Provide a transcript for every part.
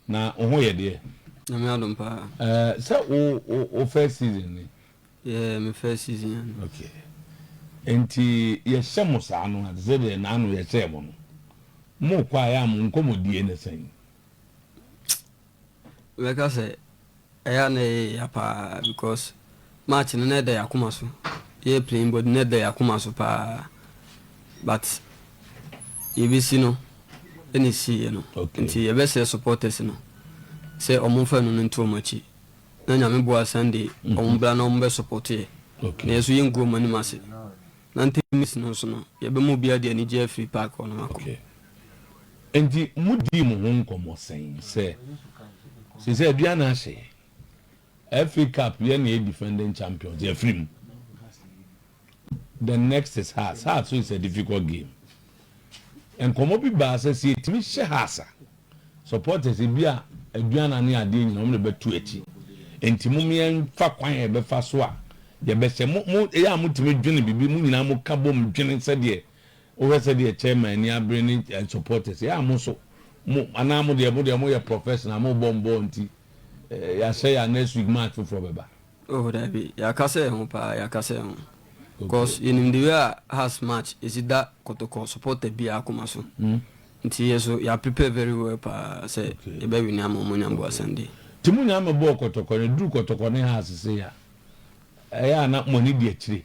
Na wo ho yɛ deɛ? Nyame adom paa. Eh, sɛ wo, wo, wo first season ni? Yeah, me first season ya no. Okay. Enti yɛhyɛ mo saa no a, te sɛ deɛ naano yɛhyɛɛ mo no, mokɔ a ɛyɛ a mo nkɔmmɔdie ne sɛn? Mɛka sɛ Ɛyɛ a na ɛyɛ ya paa because match no na ɛda yɛn akoma so. Yɛ playing body na ɛda yɛn akoma so paa but yɛbɛsi no ɛna ɛsiiɛ no. Okay. Nti yɛbɛsrɛ supporters no sɛ wɔn mfa ɛno no nto wɔn akyi na Nyame boa Sunday wɔn mmra na wɔn bɛ support yɛ. Okay. Na yɛn nso yɛngu wɔn anim ase. Na Ntemis no nso no, yɛbɛma obiara de anigye afiri park hɔ no akɔ. Okay. Enti modii mo ho nkɔmmɔ sɛn sɛ, Seesei aduan no ahye yɛn. FA Cup, yɛn na yɛyɛ defending champions, yɛafiri mu. The next is Hearts. Hearts nso is a difficult game. Nkɔmmɔ bi baa sɛ, sɛ yɛtumi hyɛ Hearts a, Supporters ebia aduan ane adeɛ nyina wɔn na ɛbɛto akyi nti mom yɛn fa kwan a yɛbɛfa so a yɛbɛhyɛ mo mo ɛyɛ a mo tumi dwene bibi mo nyinaa mo ka bom dwene sɛdeɛ wohwɛ sɛdeɛ chairman ani abere ne eh, supporters ɛyɛ a mo so mo anaa mo deɛ mo deɛ mo yɛ professional mo bɔ mbɔ nti eh, yɛahyɛ yɛ a next week match foforɔ bɛba. Oh dabi, yɛakasa yɛn ho paa, yɛakasa yɛn ho cos yɛnim the way a Hearts match ɛsi da kɔtɔkɔ supporter biara akoma so nti yɛ so yɛ prepare very well paa sɛ yɛbɛ wini ama ɔmo nya mboa Sunday. Nti mo nyinaa mɛbɔɔ kɔtɔkɔ na ɛduru kɔtɔkɔ ne Hearts sei a, ɛyɛ a na mo ani di akyire?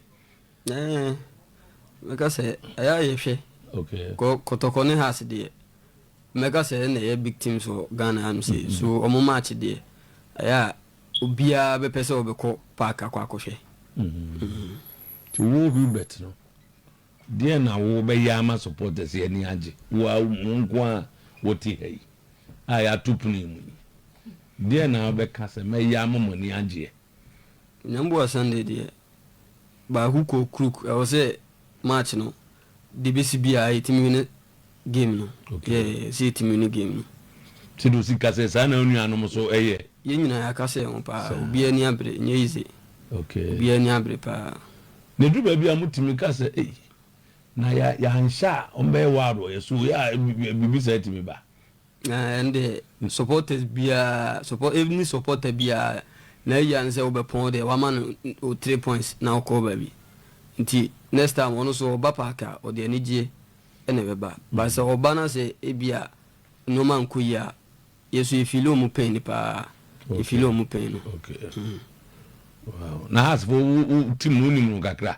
Ɛɛ, mɛka sɛ ɛyɛ a yɛhwɛ cos kɔtɔkɔ ne Hearts deɛ mɛka sɛ ɛna ɛyɛ big teams wɔ Ghana hanom sei so ɔmo match deɛ ɛyɛ a Obiara bɛpɛ sɛ ɔbɛkɔ park akɔ akɔhwɛ. Nti wo Hubert no, deɛn na wobɛyɛ ama supporters yi ani agye? Wo ara wo nko ara a wote ha yi a yɛato pono yi mu yi, deɛn na wobɛka sɛ mɛyɛ ama mo ani agyeɛ? Nyamboa Sunday deɛ, baako kɔ Kruk, ɛwɔ sɛ match no de besi bi a yɛtumi wini game no. Yeah, sɛ yɛtumi wini game no. Sɛ de osi ka sɛ saa na wo nuanom nso yɛ. Yɛn nyinaa yɛaka sɛ yɛn ho paa. Obiara ani abere, ɛnyɛ easy. Obiara ani abere paa. Na eduru baabi a motumi ka sɛ ei, na yɛanhyɛ a wɔbɛyɛ wild wɔ yɛn so, yɛ a biribi saa tumi ba. Na ɛnde supporters biara, support any supporter biara n'ayia ne sɛ wobɛpɔn wo deɛ wama no wo three points na wokɔ baabi nti next time ɔno nso ɔba park a ɔde anigyeɛ na ɛbɛba but sɛ ɔba na sɛ ebia nneɛma nkɔ yie a yɛ nso yɛfili wɔn pain no paa yɛfili wɔn pain no. Okay. Mm. Wow. Na Hearts fo wo wo team no wonim no kakra?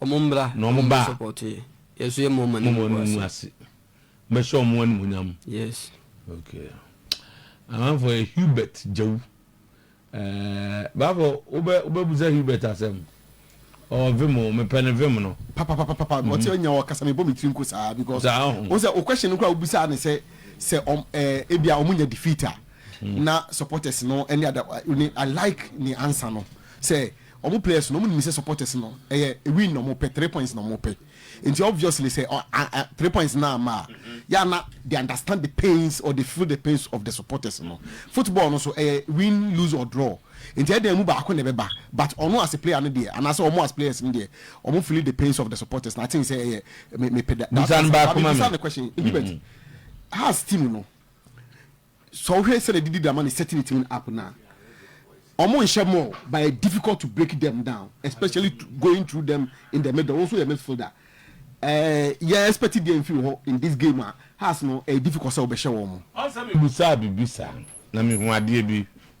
Wɔn mmra na wɔn ba a mowɔ no mu ase. Mɛhyɛ wɔn animuonyam. Yes. Okay. Amanfoɔ yɛ Hubert Gyawu. Ɛɛ baafo wobɛ wobɛbusa Hubert asɛm. Ɔwɔ vim o, mepɛ ne vim no. Papapapapa, ɔte mhm. ɔnya wɔ kasa mebɔ me tiri nko saa because wo sɛ o question no koraa wobisaa ne sɛ sɛ ɔm ɛɛ eh, ebia ɔmo nya defeat a mhm. na supporters no ɛne ada I like ne answer no sɛ Ɔmo players no ɔmo nim sɛ supporters no ɛyɛ win na ɔmo pɛ, three points na ɔmo pɛ nti obviously sɛ three points no amma a yɛ a na they understand the pains or they feel the pains of the supporters no. Football no so ɛyɛ win, lose or draw nti ɛyɛ dɛ ɛmu baako na ɛbɛba but ɔno as a player no deɛ anaasɛ ɔmo as players no deɛ ɔmo feel the pains of the supporters na I think sɛ ɛyɛ me me pɛ that answer. Maame bisa no question, Gilbert, Hearts team no. Sɛ wo hwɛ sɛdeɛ didi dama ne setting tuning up no a, ɔmo nhyɛ more but ɛyɛ difficult to break them down especially going through them in the middle, wo nso yɛ midfielder ɛɛ yɛ expect deɛ nfiri wo hɔ in this game a, has no ɛyɛ difficult sɛ wo bɛhyɛ wɔn. Mebisaa biribi saa na mehuu adeɛ bi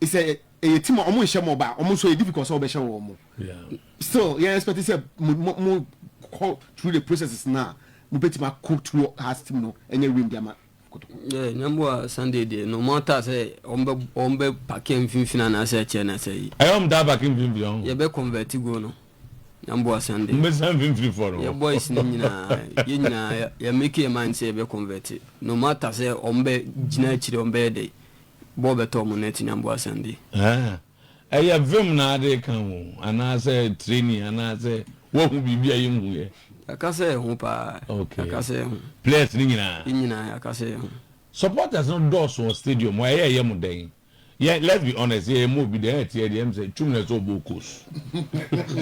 sɛ ɛyɛ team a wɔn nhyɛ mo ba wɔn nso ɛyɛ difficult sɛ wɔbɛhyɛ wɔn mo still yɛn expect sɛ mo mo mo kɔ through the processes na mo bɛtumi akɔ through heart team no ɛnyɛ wim deɛ ma kotoko. ɛɛ nyamboa sunday deɛ no mo ata sɛ wɔn bɛ wɔn bɛ paki mfinfin anaasɛ ɛkyɛ na sɛ yi. ɛyɛ wɔn taa paki mfinfin ɔn. yɛ bɛ convert go no nyamboa sunday. mo bɛ san mfinfin fɔ no. yɛ boys no nyinaa yɛ nyinaa yɛ make yɛ mind sɛ yɛ bɛ convert no mo ata sɛ wɔn bɛ gyina akyire wɔn bɛyɛ dɛ. Bɔɔ bɛtɔɔ mo na ɛte nyamboa asɛm bi. Haa! Ɛyɛ vim na ade ka ho anaasɛ training anaasɛ woahu biribi a yɛnhuiɛ? Yɛaka sɛ ɛho paa. Ok. Yɛaka sɛ ɛho. Players no nyinaa? Ne nyinaa, yɛaka sɛ ɛho. Supporters no dɔɔso wɔ stadium hɔ, ɛyɛ a ɛyɛ mo dɛn? Yɛ, let's be honest, yɛ yɛmmɔ obi dɛ, ɛteɛ deɛ ɛm sɛ Twum na ɛsɛ ɔbɔ Okos.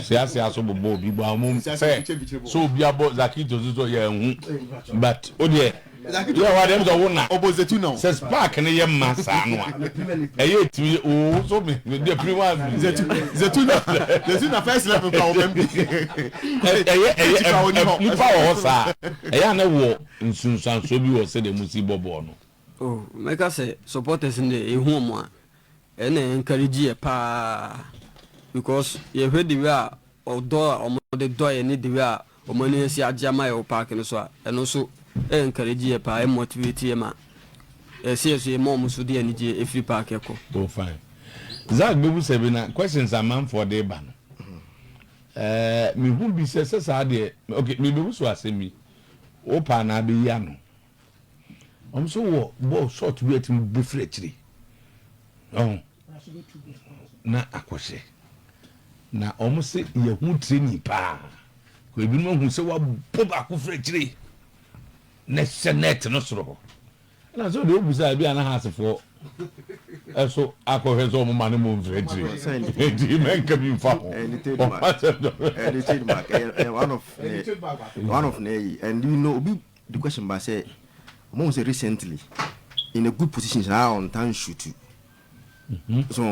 Seasea so bobɔ obi bɔ, amom sɛ, sɛ obi abɔ Zakito so so yɛanhu, but wodeɛ. Yɛ w'ade na wo na. Sɛ spark no yɛ ma saa no a, ɛyɛ tumi oo so me me deɛ pini wa mi deɛ. Zetuna Zetuna first level ka wɔn bi. Ɛyɛ ɛyɛ ɛb nipa wɔ hɔ saa a, ɛyɛ a na wɔ nsunsuansoɔ bi wɔ sɛdeɛ mo si bɔ bɔɔl no. Oh mɛka sɛ supporters no deɛ yɛ hu wɔn a ɛna encourage yɛ paa because yɛ hwɛ the way a ɔdɔ a wɔn de dɔ yɛ ne the way a wɔn ani asi agye ama yɛ wɔ park no so a, ɛno nso ɛ encourage yɛ paa, ɛ motivate yɛ ma ɛ si yɛ so yɛ ma wɔn nso de anigyeɛ ɛfiri park ɛkɔ. Oh fine. Zack bɛbu sɛ bi na questions amanfoɔ de ba no, ɛɛ, mehu bi sɛ sɛ saa deɛ, ok, merebɛbu so asɛm bi, wopɛ anaa bɛyi ano? wɔn nso wɔ bɔɔl short bi a ɛtumi bu firi akyiri ɔn na akɔhyɛ na wɔn se yɛ ho training paa kò ebinom ahu sɛ wabɔ baako firi akyiri na hyɛ net no soro hɔ ɛna sɛ ɔde obu sɛ ebi a na ha asefoɔ ɛso akɔhwɛ sɛ wɔn ma ne mu mfiri akyiri eti mɛ nka bi nfa ho wɔn asɛ dɔrɔ. edited mark ɛyɛ one of ne one of ne yi and you know obi The question ba sɛ, ɔmo hu sɛ recently in a good position saa a ɔntaa nsutu. So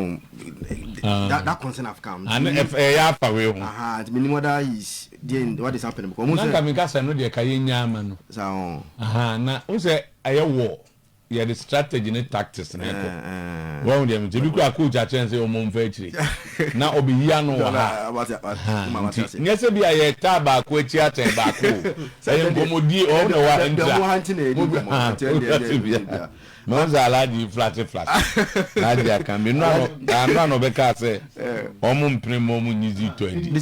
that that concern have come. Ano ɛyɛ afa wei ho. Aha nti menim whether he is deɛ what is happening because ɔmo sɛ. Nanka meka sɛ ɛno deɛ ka yɛn nya ama no. Saa ɔn. Aha na ɔn sɛ ɛyɛ war. Yɛde strategy ne tactics na ɛkɔ. Wahu deɛ mete. Ebi koraa coach akyerɛ no sɛ ɔmmɔ mfa akyire. Na ɔbɛyi ano wɔ ha. Ahaa nti nyɛ sɛ bi a yɛtaa baako akyi atɛn baako o. Ɛyɛ nkɔmmɔdie ɔwo na wa ntra. Mahu sɛ Alhaji reflate flate. Alhaji aka bi. Nnora na nnora na ɔbɛkaa sɛ wɔn mpene mma wɔn nyi zitɔ adi. Wɔn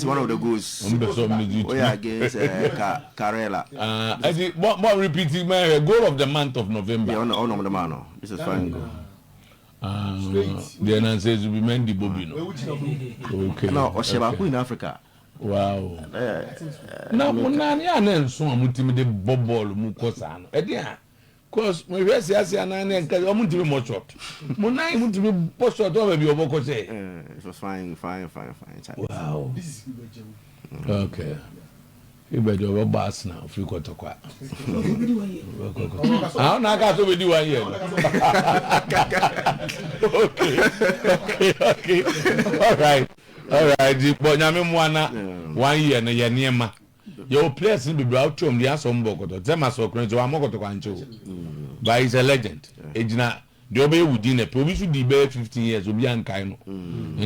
pɛ sɛ wɔn ne zitɔ. Tarela. Ah eti bɔ bɔ repeat ma yɛhwɛ goal of the month of November. Yeah ɔna ɔna ɔmo de maa no this is fine goal. Ah deɛ na nsɛ ezu bi Mendy bɔ bi no okay. Ɛna ɔhyɛ baako in Africa. Wow na mo nane a na nson a mo timi de bɔ bɔɔlo mu kɔ saa no ɛdeɛn a Cos mo hwɛ siase anan na nka ɔmo ntumi mmɔ shot mo nan mo ntumi bɔ shot ɔmo baabi ɔbɔ kɔ sɛ. Eh fine fine fine fine chale. Wow ok Fiba deɛ ɔbɛ bɔ Arsenal ofiri kɔtɔkwa ah ɔna aka so bedi one year ok ok ok alright alright bɔ nyame mmoa na one year no yɛ nneɛma. Yɛwɔ players no bebree a wote wɔn de asɔ wɔn bɔ kɔtɔ te sɛ Marcel Knorr nti wammɔ kɔtɔkwa ankyɛ o but he's a legend egyina deɛ ɔbɛyɛ wo din na ɛpɛ obi so di bɛyɛ fifteen years obi ankae no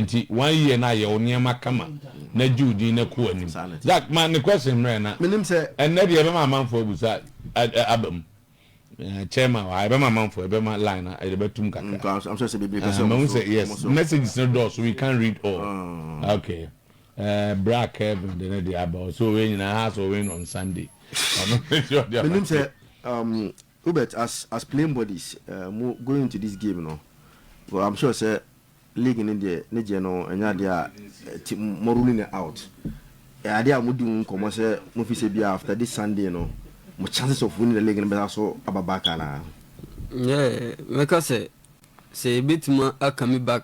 nti one year na ayɛ wo nneɛma kama na gye wo din na kɔ anim Zak ma ne question mmerɛ na ɛnɛ deɛ ɛbɛma amanfoɔ abusa aba mu chairman wa ɛbɛma amanfoɔ ɛbɛma line na ɛde bɛtum kakra mahu sɛ yes messages no dɔɔso we can't read all okay. Eh bra Kelvin de ne deɛ aba o so wei nyinaa has o win on Sunday ɔno nti ɔde aba. Menim sɛ um, Hubert as as playing bodies eh, mo going into this game no well I'm sure sɛ league no deɛ ne gyeɛ no ɛnyɛ adeɛ a ti mo ruling it out ɛyɛ adeɛ a mo di ho nkɔmmɔ sɛ mo fi sɛ bia after this Sunday no mo chances of winning the league no bɛsa so aba back anaa. Yeah, mɛka sɛ sɛ yɛbɛtumi aka me back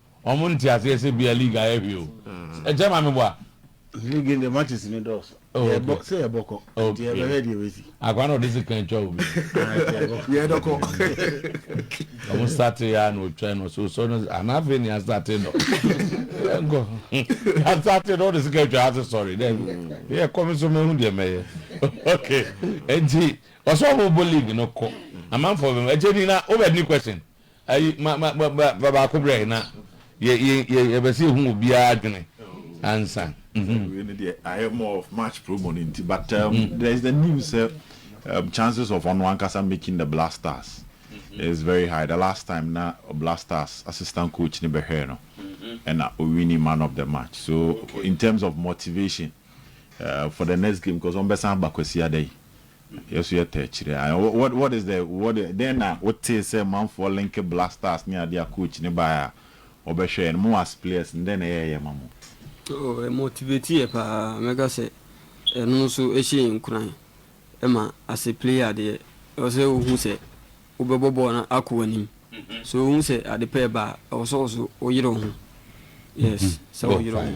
Ɔmo nte aseɛ sɛ bia league ayɛ hwee o ɛkyɛ maame boa. League ndeɛ matches no dɔɔso yɛbɔ sɛ yɛbɔkɔ nti yɛbɛhwɛ deɛ ɛbɛsi. Akoa na ɔde sika twa obi. Yɛdɔkɔ. Ɔmo startee aa na ɔtwa no ɔsɛ ɔsɔ no anaa afei na yɛastartee no yɛnkɔ yɛastartee no ɔde sika twa ase sɔre daabi yɛkɔ me nso mahu deɛ mɛyɛ ok nti ɔsɛ ɔmo bɔ league no kɔ amanfoɔ bɛm ɛkyɛ ni na wobɛ ni question Ayi ma ma ma ma fa baako brɛ na yɛ yɛ yɛ yɛbɛ sɛ ehu obiara adwene ansa. Sɛ wei no deɛ ayɛ more of match promo no nti but um, there is the news sɛ um, chances of ɔno ankasa making the Black Stars is very high. The last time na Black Stars assistant coach no bɛhwɛɛ no ɛna owini man of the match so in terms of motivation uh, for the next game cause ɔmbɛsan aba Kwasiada yi Yɛ so yɛ tɛ kyerɛ a what what is the what dɛn na wo tee sɛ manfoɔ linke blasters ne adeɛ a coach no baeɛ a ɔbɛhwɛɛ no mo as players no dɛn na ɛyɛɛyɛ ma mo? Oh ɛ motivate yɛ paa mɛka sɛ ɛno nso ɛhyɛ yɛn nkuran ɛma as a player deɛ ɛwɔ sɛ wo hu sɛ wo bɛbɔ bɔɔl no akɔ w'anim so wo hu sɛ ade pa ɛba a ɛwɔ sɛ wo so wo yere wo ho yes sɛ wo yere wo ho.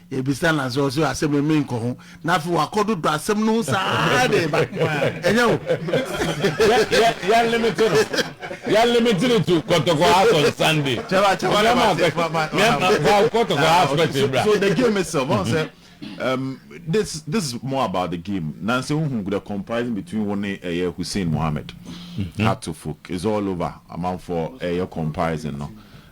Yɛbisa no ase, ɔse asɛm yi menkɔ ho, na afei wakɔdodɔ asɛm no ho saa de reba. Ɛnyɛ wo? Yɛnlimite no, yɛnlimite no to Kɔtɔkɔ house on Sunday. Kyɛfa, kyɛfa na ma se, ma, ma, ma. Fa Kɔtɔkɔ house question bra. So the game itself, wɔn sɛ, um, this, this is more about the game. Nansi wohu the comparison between wo ne ɛyɛ Hussein Mohammed, Hatofuk, it's all over. Amanfoɔ ɛyɛ comparison no.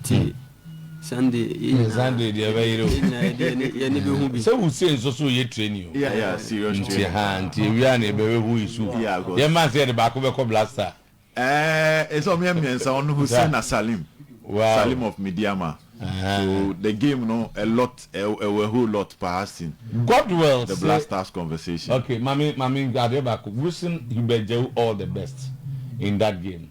Nti Sunday yɛ nyinaa. Sunday deɛ ɛbɛyere o. Yɛ nyinaa yɛde yɛne bɛhu bi. Sɛ wusie nso so yɛ training o. Yeah yeah serious training. Nti haa nti ewia na yɛbɛhwɛ who is who. Yeah cos. Yɛn man sɛ yɛde baako bɛkɔ blaster. Ɛɛɛ ɛsɛ ɔmo yɛ mmiɛnsa ɔno Hussein na Salim. Wow. Salim of Midiama. So the game no a lot ɛwɔ a whole lot paa sin. Godwell se. The blasters conversation. Okay mame mame adeɛ baako wishing Hubert Djawu all the best in that game.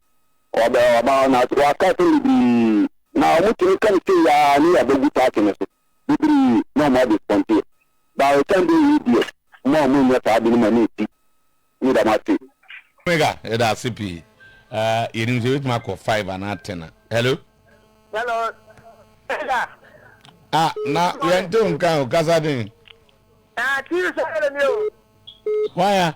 Wɔbɛ wɔba hɔ na wɔaka asɛm bebree na wɔn tumi ka no sei aa ne yɛ bɛgu party no so bebree na wɔn adisponteɛ but it can be we deɛ mo a mo nyɛ saa ade no mo ani nsi ne dɛm ase. Omega yɛda ase pii aa yɛnim sɛ yɛbɛtumi akɔ five anaa ten a hello. Hello Omega. Ah na yɛnte wo nka o kasa den. Ah TV sɔre ni o. Why a.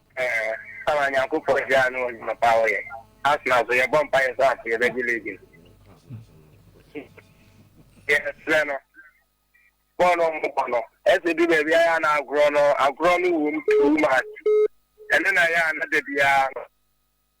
Samuel Nyankopɔn gyaa no wɔ ndwuma pa a ɔyɛ. Arsenal so yɛbɔ mpaeɛ sɛ afei yɛbɛgye league no. Yɛsrɛ no bɔɔl no ɔmo bɔ no ɛsɛ du baabi a yɛ a na agorɔ no agorɔ no wom too much. Ɛno na ɛyɛ a na da biara no.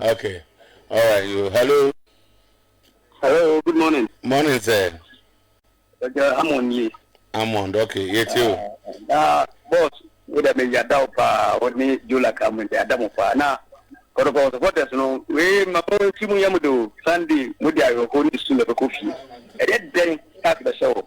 Ok alright yoo hello. Hello good morning. Morning sir. Ɛjɛ Amon nie. Amon ok yɛtie o. Na boss wo dɛ mɛ yada o paa o ne Jola ka mɛ yada mo paa na kɔdɔkɔ supporters no wee ma mo nsi mo yam do Sunday mo de ayɔkɔ ne su na bɛkɔ fie ɛyɛ dɛn tax bɛhyɛ o.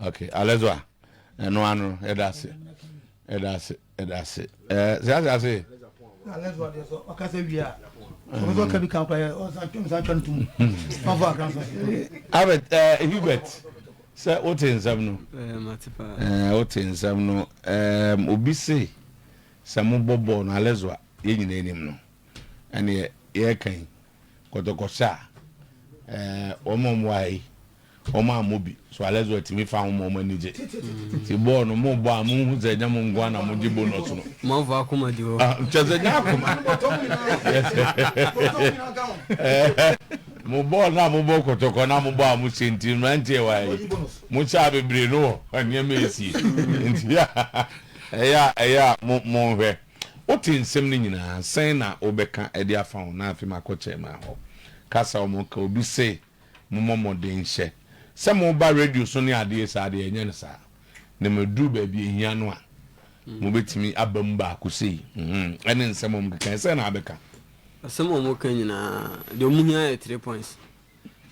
ok alɛzɔ a ɛno ano ɛda ase ɛda ase ɛda ase ɛɛ sɛ ase ase. alɛzɔ adeɛ sɔ ɔkasa wie a ɔno sɔ kabi kan kora ɔsan twɛm san twɛn tum ɔfɔ akra sɔ. abet ɛɛ hubert sɛ o te nsɛm no ɛɛ o te nsɛm no ɛɛ obi se sɛ mo bɔ bɔɔl no alɛzɔ a yɛn nyinaa anim no ɛne yɛ yɛ kan. kɔtɔkɔhyɛ a, ɛɛ wɔn a wɔwɔ ha yi, wɔn ammɔ bi. So alɛ sɛ wɔatumi fa ho ma wɔn ani gye. Nti bɔɔl no, mobɔ a monhu sɛ ɛnyɛ mo nko ara na mogye bonus no. Moamfa akoma di hɔ. Ah, kyerɛ sɛ nyɛ akoma. Mo bɔɔl no a mobɔ kɔtɔkɔ no a mobɔ a mohyɛ nti, mmeranteɛ wɔ ha yi, mohyɛ a bebree no wɔ nneɛma a ɛsie. Nti ɛyɛ a, ɛyɛ a monhwɛ. Wote nsɛm no nyinaa, sɛn na wobɛka de afa ho? Na afei makɔ Chairman hɔ kasa, wɔka obi se mommɔ mmɔden nhyɛ sɛ moba radio so ne adeɛ saa deɛ, yɛnyɛ no saa. Na maduru baabi a ɛhia no a, mobɛtumi aba mu baako sei, mm-hmm, ɛne nsɛm a wɔkeka, sɛn na wobɛka? Asɛm a wɔka nyinaa, deɛ wɔhia yɛ three points.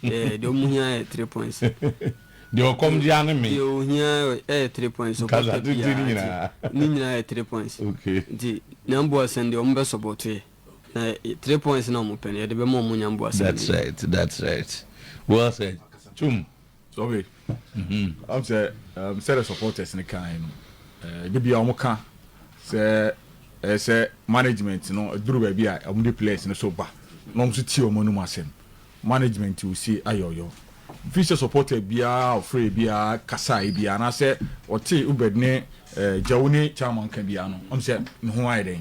Yeah, deɛ ɔmo hia yɛ three points. Deɛ ɔkɔm de ane me. Deɛ ohia yɛ three points. Ɔbɔ tɛ biara ne nyinaa yɛ three points. Okay. Nti nyamboa sɛn deɛ ɔmo bɛ sɔbɔto yɛ. Na three points na ɔmo pɛ no yɛde bɛ ma ɔmo nyamboa sɛn. That's right, that's right. Well said. Tum. Okay ɔn sɛ um, sɛdɛ supporters no kae no eh, de bia wɔn ka sɛ ɛyɛ sɛ management no duru baabi a wɔn de players no so ba na wɔn nso tie wɔn anum asɛm management will say ayɔyɔ fi sɛ supporter biara ɔfrɛ biara kasae biara anaasɛ ɔte ubed ne eh, gyawu ne chairman ka biara no ɔm sɛ ne ho ayɛ dɛn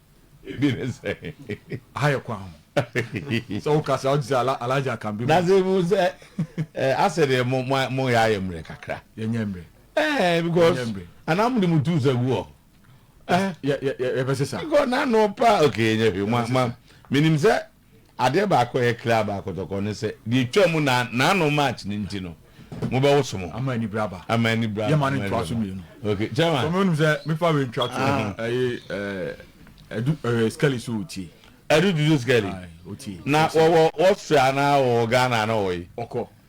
Ebi ne sɛ. Aha yɛ kwan ho. Sɛ wo kasa a, wote sɛ Alhaji Akanbi. Na sɛ ebi sɛ, eh, asɛ deɛ mo, mo, mo yɛ ayɛ mmerɛ kakra. Yɛ nyɛ mmerɛ. Eh, because. Anaa mo de mo tu sa gu hɔ. Eh. Yɛ, yɛ, yɛ, yɛ bɛ sesa. Because na no pa, okay, yɛ nyɛ hwee, mo, ma, menim sɛ. Adeɛ baako a ɛyɛ clear about Kɔtɔkɔ ne sɛ, deɛ ɛtwaa mu na Nano march no nti no, mobɛwoso mo ho. Ama ani bere aba. Ama ani bere aba. Yɛma no ntoa so mmienu. Okay, Chairman. Sɛ wonim sɛ mefa wei ntwa to ho, ɛyɛ Adu Skelly so ɔtie. Adu Dudu Skelly? Aye, ɔtie. Na wɔwɔ Austria anaa wɔwɔ Ghana anaa wɔwɔ he? Ɔkɔ.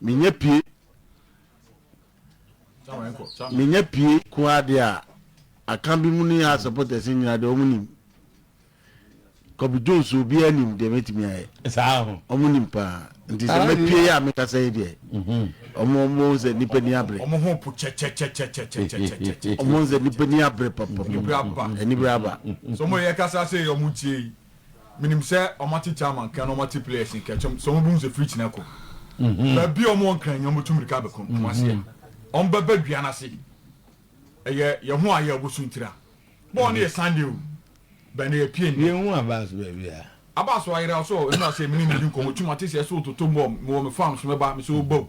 Menya pie menya pie koraa deɛ a aka bi mu ne yɛ supporters nyinaa deɛ wɔn nim Kobe Jones obiara nim deɛ mɛtumi ayɛ wɔn nim paa nti sɛ mɛpie yɛ a mekasa yi deɛ wɔn wɔn sɛ nipa ni abere wɔn ho po kyɛkyɛkyɛkyɛkyɛkyɛkyɛ wɔn sɛ nipa ni abere papapapa ɛni bere aba sɛ wɔn yɛ kasa sɛ wɔn tie yi. Menim sɛ wɔate Chama nka na wɔate players nkɛkyem sɛ wɔbɛhu sɛ free kyina kɔ baabi a wɔwɔ nkran nyɛ wɔbɛtu mmirika abɛko wɔn aseɛ wɔbɛba dua no ase ɛyɛ yɛ ho ayɛ wɔbɛsu ntira bɔɔl no yɛ Sunday o bɛn na yɛpie nnɛ. Yɛhu Abbas baabi a. Abbas wayera so ɔ, ɛno na sɛ mene no di nkɔmmɔ tu mate sɛ ɛso wototo mu ɔ, mewɔ me farm so mɛba me sɛ ɔba o.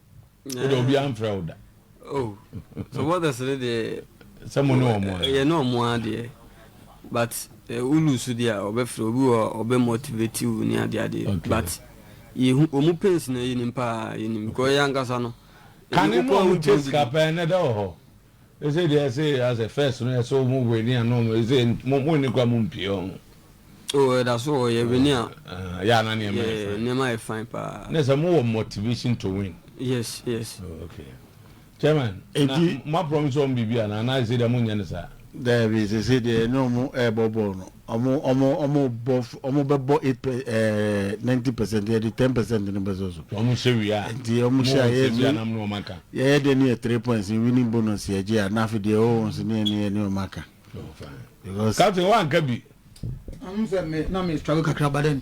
wo de obi amfrɛ wo da oh so what does it deɛ sɛ mo ne wɔn a yɛ ne wɔn a deɛ but wo lose deɛ a ɔbɛfrɛ obi wɔ ɔbɛ motivate wo ne adeɛ adeɛ but yɛhu wɔn pains na yɛnim paa yɛnim because yɛ ankasa no kane no wɔn gye sika pɛn na ɛda wɔ hɔ Ese deɛ ese asɛ first no ɛsɛ ɔmo wini a na ɔmo ese mo mo nni kwa mo mpie ɔho. Oh ɛda so wɔ yɛ wini a. Ahaa ya na nneɛma yɛ fine. Nneɛma yɛ fine paa. Ne sɛ mo wɔ motivation to win. Yes yes. Oh ok chairman na mo a promise ɔmo biribi anaa anaa ese deɛ mo nyɛ no saa. Daabi sese deɛ na ɔmo ɛbɔ bɔɔl no Wɔbɛbɔ eight per ɛɛ ninety percent yɛde ten percent no bɛsɔ so. Wɔn hyɛ wie a. Nti wɔn hyɛ a yɛyɛ so yɛyɛ dɛ ne yɛ three points winning bonus yɛgye a na afei deɛ ɛwɔ wɔn so ne yɛn ne yɛn ne wɔn aka. Captain wɔn anka bi. Wɔn sɛ me na me struggle kakra but then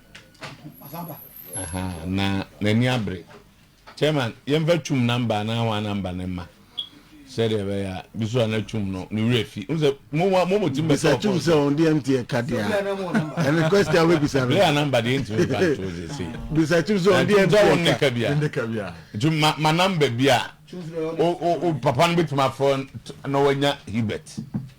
na n'ani abere chairman yɛmfa twum namba anaa wɔn namba ne mma sɛdeɛ ɛbɛyɛ a bi so a na twum no ne werɛ fi n sɛ mowa mo mɔtim bɛ sɛ twum sɛ ɔn deɛ nteɛ ka deɛ a ɛne kwɛsti a wobɛbisa no lea namba deɛ ntimi mfa nto sɛ sei bisa twum sɛ ɔn deɛ nteɛ ka bia nti ma namba bi a o papa no bɛtumi afrɛ na wanya hibet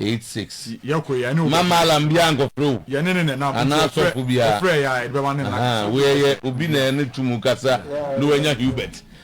eight six. Mma maalam biara nkɔfrɛ wo anaa asɔfo biara. Ahaa, wo yɛyɛ obi na ɛne to mu kasa na wanya Hubert.